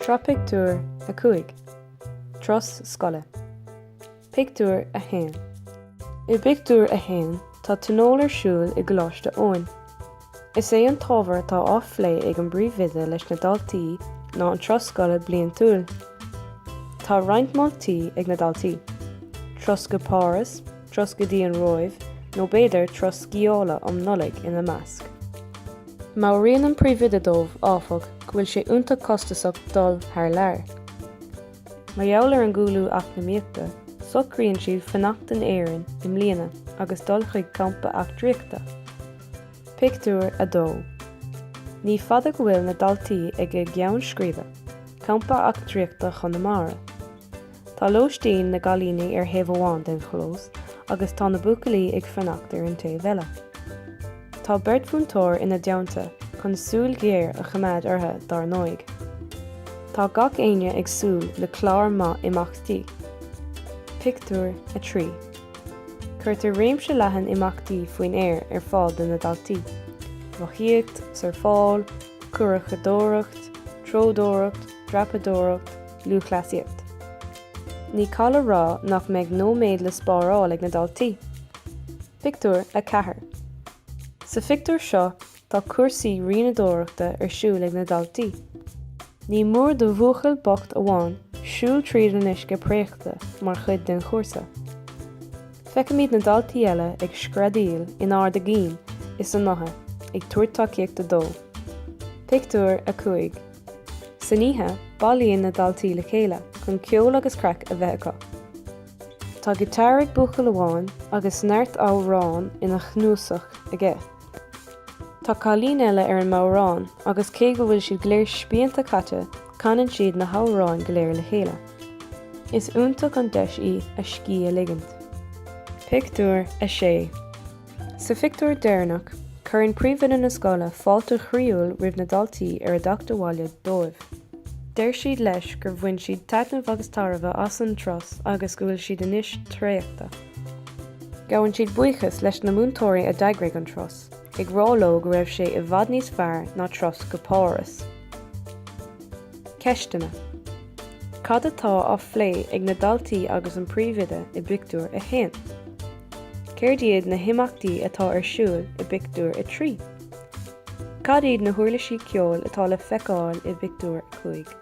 Sraith pictiúr a cúig. Turas scoile. Pictiúr a haon. I bpictiúr a haon tá tionól ar siúl i gColáiste Eoin. Is é an t-ábhar atá á phlé ag an bpríomhoide leis na daltaí ná an turas scoile bliantúil. Tá roinnt moltaí ag na daltaí, turas go Páras, turas go dtí an Róimh, nó b'fhéidir turas sciála um Nollaig ina measc. Meabhraíonn an príomhoide dóibh, áfach, go bhfuil sé iontach costasach dul thar lear. Mar gheall ar an gcúlú eacnamaíochta, socraíonn siad fanacht in Éirinn i mbliana agus dul chuig campa eachtraíochta. Pictiúr 2 Ní fada go bhfuil na daltaí ag a gceann scríbe, Campa Eachtraíochta Chonamara. Tá lóistín na gcailíní ar thaobh amháin den chlós agus tá na buachaillí ag fanacht ar an taobh eile. Tá beirt mhúinteoir ina dteannta chun súil ghéar a choimeád orthu dár ndóigh. Tá gach aon duine ag súil le clár maith imeachtaí. Pictiúr 3 Cuirtear réimse leathan imeachtaí faoin aer ar fáil do na daltaí, rothaíocht, surfáil, curachadóireacht, treodóireacht, dreapadóireacht, Lúthchleasaíocht Ní call a rá nach mbeidh nóiméad le spáráil ag na daltaí. Pictiúr 4 Sa phictiúr seo tá cúrsaí rianadóireachta ar siúl ag na daltaí. Ní mór do bhuachaill bocht amháin siúl tríd an uisce préachta mar chuid den chúrsa. Feicimid na daltaí eile ag screadaíl in ard a gcinn is a ngutha ag tabhairt tacaíochta dó. Pictiúr 5. San oíche, bailíonn na daltaí le chéile chun ceol agus craic a bheith acu. Tá giotár ag buachaill amháin agus neart amhrán ina chnuasach aige. Tá cailín eile ar an mbodhrán agus cé go bhfuil siad go léir spíonta caite, canann siad na hamhráin go léir le chéile. Is iontach an deis í a scíth a ligint. Pictiúr 6 Sa phictiúr deireanach, cuireann príomhoide na scoile fáilte chroíúil roimh na daltaí ar a dteacht abhaile dóibh. Deir siad leis gur bhain siad taitneamh agus tairbhe as an turas agus go bhfuil siad anois traochta. Gabhann siad buíochas leis na múinteoirí a d'eagraigh an turas, ag rá leo go raibh sé i bhfad níos fearr ná turas go Páras. Ceisteanna, Cad atá á phlé ag na daltaí agus an príomhoide i bpictiúr a haon? Céard iad na himeachtaí atá ar siúl i bpictiúr a trí? Cad iad na huirlisí ceoil atá le feiceáil i bpictiúr a cúig?